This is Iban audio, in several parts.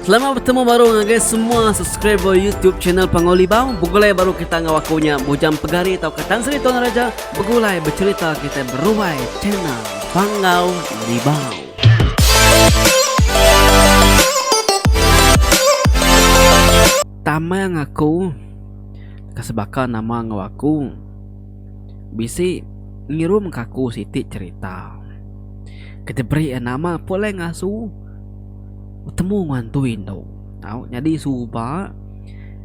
Selamat betemu baru ngagai semua subscriber YouTube channel Panggau Libau. Begulai baru kita enggau aku nya Bujang Pegari tauka Tan Sri Tuan Raja begulai becerita kita beruai channel Panggau Libau. Tamang aku Kasebaka nama ngau aku Bisi ngirum kaku siti cerita Kita beri nama pulai ngasu betemu ngan Tuin tu tau nyadi suba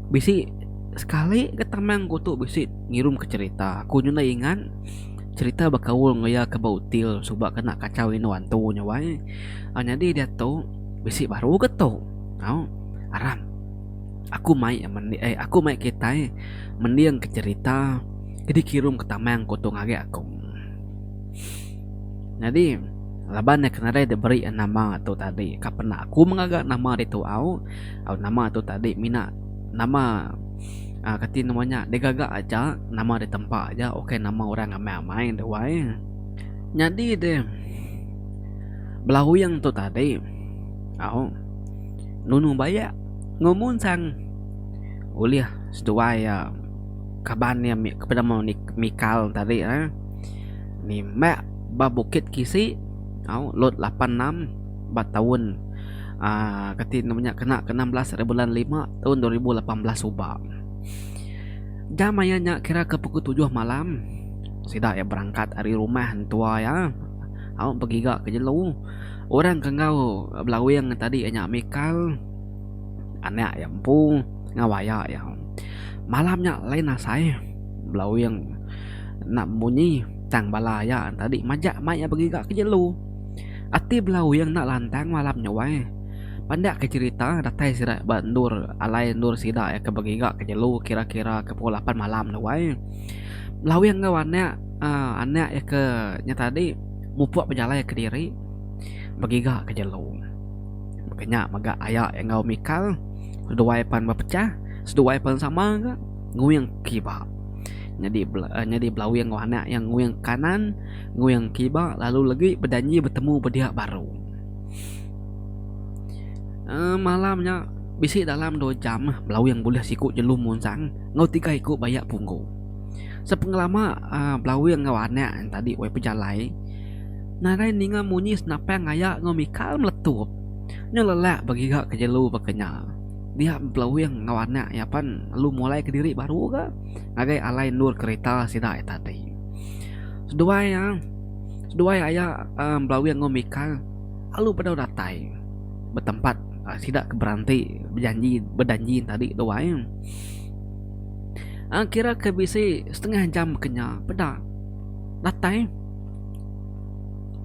bisi sekali ke tamang ku tu bisi ngirum ke cerita ku nyudah ingat cerita bekaul enggau iya ke ba util suba kena kachau indu antu nya wai aaa nyadi diatu bisi baru ke tu tau aram aku mai mende ai aku mai kitai mending ke cerita ke dikirum ke tamang ku tu ngagai aku. Nyadi laban nya kenadai dek beri nama tu tadi ka pena aku mengaga nama ditu au au nama tu tadi mina nama uhh kati nama nya digaga aja nama ditempa aja ukai nama orang amai amai enda wai nyadi deh belauing tu tadi au nunu bayak ngumun sang ulih seduai uhh kaban iya mik peda mik mikal tadi uhh. Nimbak ba bukit kisi tau lot lapan enam ba taun aaa kati nama nya kena ke enam belas ari bulan lima taun dua ribu lapan belas suba. Jam aya nya kira ke pukul tujuh malam sida iya berangkat ari rumah entua iya tau begiga ke jelu orang ke enggau belawing tadi nya Mikal anak iya empu enggau aya iya. Malam nya lain asai belawing. enda bemunyi tang bala aya tadi majak mai iya begiga ke jelu. Ati bela uing enda lantang malam nya wai. Pandak ke cherita datai sida ba endur alai endur sida iya ke begiga ke jelu kira-kira ke pukul lapan malam tu wai. Bela uing enggau anak uhh anak iya ke nya tadi mupuk bejalai kediri begiga ke jelu. Maka nya mega aya enggau mikal seduai pan bepecah seduai pan sama ka. nguing kiba. Nyadi nyadi belawing enggau anak iya nguing kanan, nguing kiba lalu legi bejanji betemu bedia baru. uhh malam nya bisi dalam dua jam belawing bulih siku jelu munsang enggau tiga iku baya punggu. Sepengelama uhh belawing enggau anak nya tadi wei pejalai nadai ninga munyi senapang aya enggau mikal meletup nya lelak begiga ke jelu baka nya. Dia empelawing enggau anak iya pan lalu mulai kediri baru ga ngagai alai endur kereta sida ita ti. Seduai iya seduai aya empelawing enggau Mika lalu bedau datai betempat sida ke beranti bejanji bedanji tadi tu ai. Aa kira ke bisi setengah jam kenya peda datai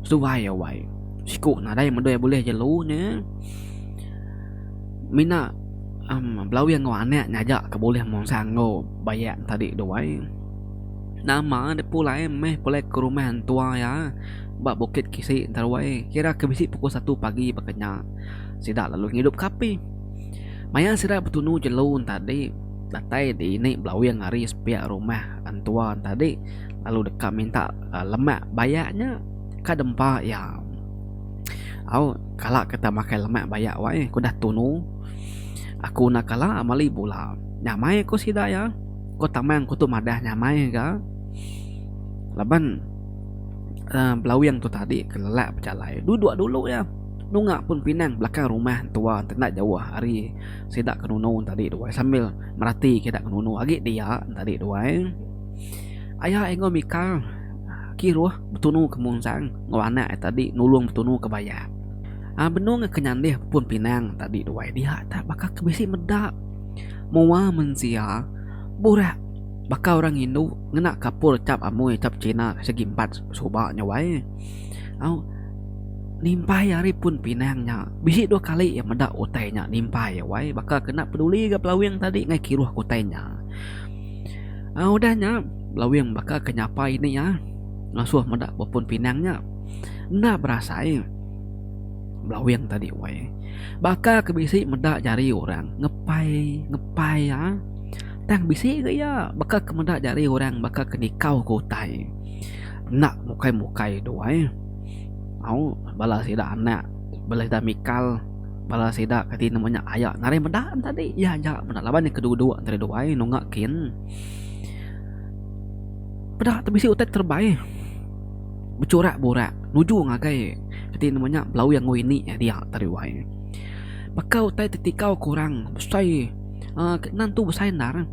seduai iya wai siku nadai meda iya bulih jelu nya. mina um belawing enggau anak ngaja ke bulih mansang enggau bayak tadi tu ai nama ne pulai meh pulai ke rumah entua iya ba bukit kisi enta ruai kira ke bisi pukul satu pagi baka nya sida lalu ngidup ke api maya sida betunu jelu tadi datai dini belawing ari sepiak rumah entua tadi lalu deka minta lemak bayak nya ka dempa iya. Au kala ke tau makai lemak baya wai ku dah tunu aku enda kala meli bula nyamai ku sida iya ku tamang ku tu madah nyamai ga laban uhh belawing tu tadi ke lelak bejalai dulu dua dulu iya nunga pun pinang belakang rumah entua ti enda jauh ari sida ke nunu tadi tu ai sambil merati ke ida ke nunu agi dia tadi tu ai aya enggau mikal kiruh. Betunu ke munsang enggau anak iya tadi nulung Betunu ke bayap. Aa benung ke nyandih pun pinang tadi duai dia tak baka ke bisi meda. Mua mensia burak baka orang indu ngena kapur chap amoi chap China segi empat suba nya wai. Au nimpai ari pun pinang nya bisi dua kali iya meda utai nya nimpai iya wai baka ke enda peduli ga pelawing tadi ngai kiruh ke utai nya. Um udah nya Lawing baka ke nyapai ni iya ngasuh meda bepun pinang nya enda berasai Lawing tadi wai baka ke bisi meda jari orang ngepai ngepai iya tang bisi ga iya baka ke meda jari orang baka ke nikau ke utai enda mukai mukai duai au bala sida anak bala sida mikal. Bala sida kati nemu nya aya ngaran meda enda agi iya aja meda laban iya kedua-dua antara dua ai nunga kin peda te bisi utai terebai bechurak burak nuju ngagai kati nemu nya belawi angu ini iya dia antara dua ai baka utai ti tikau kurang besai uhh nan tu besai endar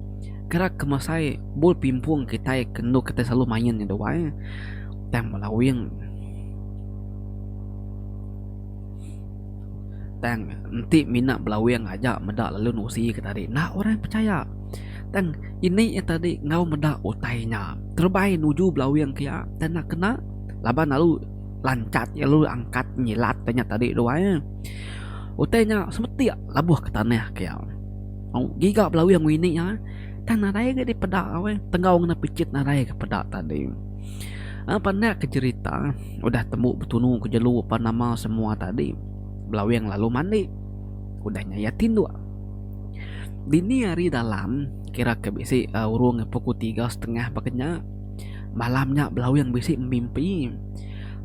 kira kemasai bol pimpong kitai ke enu kitai selalu main nya dua ai tang belawi. Tang enti mina belawing aja meda lalu nusi ke tadi enda orang pechaya tang ini iya tadi enggau meda utai nya terebai nuju belawing ke iya tang enda kena laban lalu lanchat iya lalu angkat nyilat iya nya tadi tu ai utai nya semetik lebuh ke tanah ke iya ngiga belawing wini iya tang nadai lagi dipeda tenggau ngena pichit nadai ke peda tadi. Enda pandai ke jerita. Udah tembu betunu ke jelu apan nama semua tadi, Belawing lalu mandi. Udah nya iya tinduk. Dini hari dalam, kira ke bisi urung pukul tiga setengah baka nya, malam nya Belawing bisi bemimpi.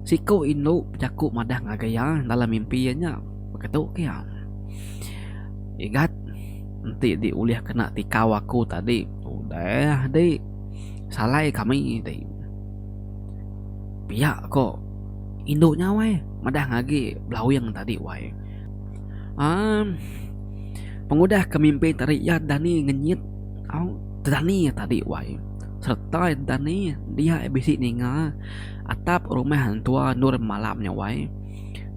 Siku indu bejaku madah ngagai iya dalam mimpi iya nya. Baka tu ke iya, Igat, enti dih ulih kena tikau aku tadi, udah dih. Salai kami ti. Pia ko indu nya wai madah ngagi belawing tadi wai amm pengudah ke mimpi tadi iya dani ngenyit au tedani iya tadi wai sereta iya dani dia iya bisi ninga atap rumah entua endur malam nya wai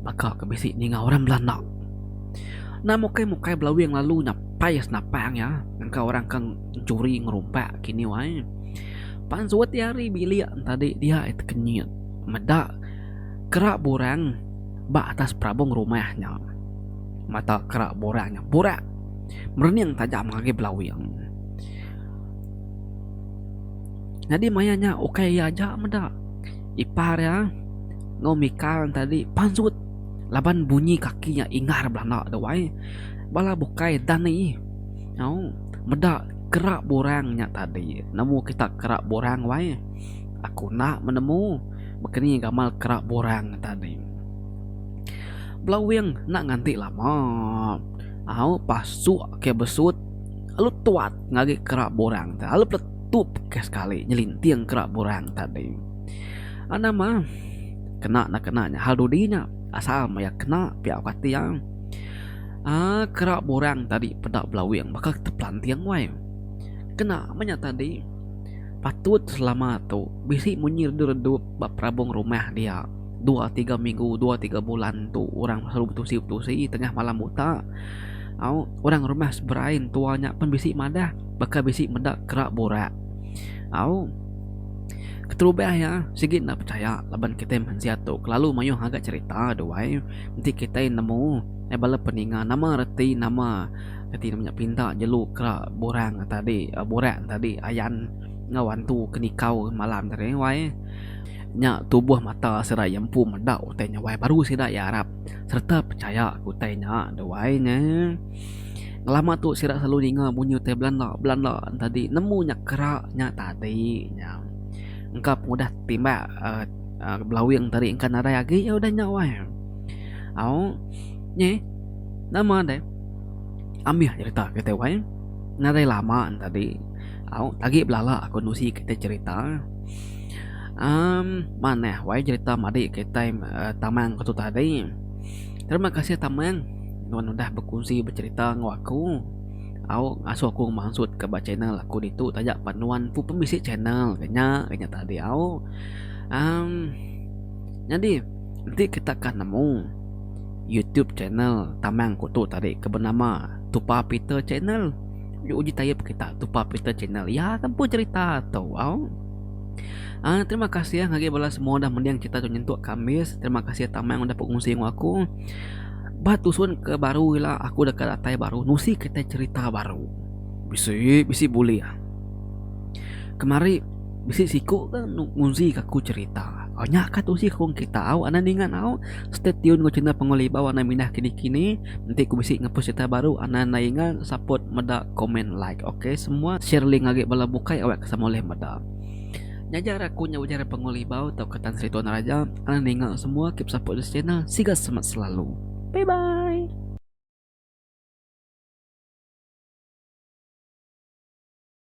baka ke bisi ninga orang belanak na mukai mukai belawing lalu nyapai senapang iya ngangka orang ke curi ngerumpak kini wai. Pan suati hari bilik entadi dia ai tekenyit meda kerak burang ba atas perabung rumah nya. Mata kerak burang nya burak merening taja ngagai belawing. Nyadi maya nya ukai iya aja meda, ipar iya enggau Mikal entadi pansut laban bunyi kaki nya ingar belanda dau ai. Bala bukai Dani nyau meda. Kerak borang nya tadi nemu kita kerak borang wai. Aku enda menemu bekeni gamal kerak borang nya tadi. Belawing enda nganti lama au pasuk ke besut lalu tuat ngagai kerak borang tu lalu peletup ke sekali nyelinting kerak borang tadi. Au nama kena enda kena nya hal dudi nya asal maya kena pia au kati am. Aa kerak borang tadi peda belawing baka tepelanting wai. Kena menya tadi patut selama tu bisi munyi redup-redup ba perabong rumah dia dua tiga minggu dua tiga bulan tu orang selalu betusi-betusi tengah malam buta au orang rumah seberai entua nya pun bisi madah baka bisi meda kerak borak au keterubah iya sigi enda pechaya laban kitai mensia tu kelalu mayuh agat cherita duai enti kitai nemu. Ai bala peninga nama reti nama reti nama nya pinta jelu kera borang tadi borang tadi ayan enggau antu ke nikau malam tadi wai nya tubuh mata sida iya empu meda utai nya wai baru sida iya arap sereta pechaya ke utai nya tu wai nya lama tu sida selalu ninga bunyi utai belanda belanda tadi nemu nya kera nya tadi nya engka pengudah timbak belawing tadi engka nadai agi udah nya wai. Au nyi nama deh amih cerita kitai wai nadai lama tadi au agi belala aku nusi kitai cerita um manah wai cerita madi kitai tamang aku tadi terima kasih tamang nuan udah berkongsi bercerita enggau aku au ngasuh aku mansut ka ba channel aku ditu taja pa nuan ku pun bisi channel ke nya ke nya tadi au um nyadi. Enti kita ka nemu YouTube channel Tamang Kuto tadi ke benama Tupa Peter Channel nya uji tayup kita Tupa Peter Channel iya ke empu cerita tu au. Uh, terima kasih ngagai bala semua udah mending cerita tu nyentuk Kamis. Terima kasih Tamang udah pengunsi dengan aku. Ba tusun ke baru ila aku deka datai baru nusi kitai cerita baru. Bisi bisi bulih. Kemari Bisi siku ke ngunzi ke aku cerita. Au nya ka tusi ke wong kita au anang ninga au. Stay tune enggau channel Pengawa Libau anang mindah kini kini enti ku bisi ngepost cerita baru anang enda inga support meda komen like ok semua share link agi bala bukai awak ke sama ulih meda. Nyaja ra aku nya ujar Pengawa Libau tau ke Tan Sri Tuan Raja anang ninga semua keep support this channel siga semet selalu. Bye bye.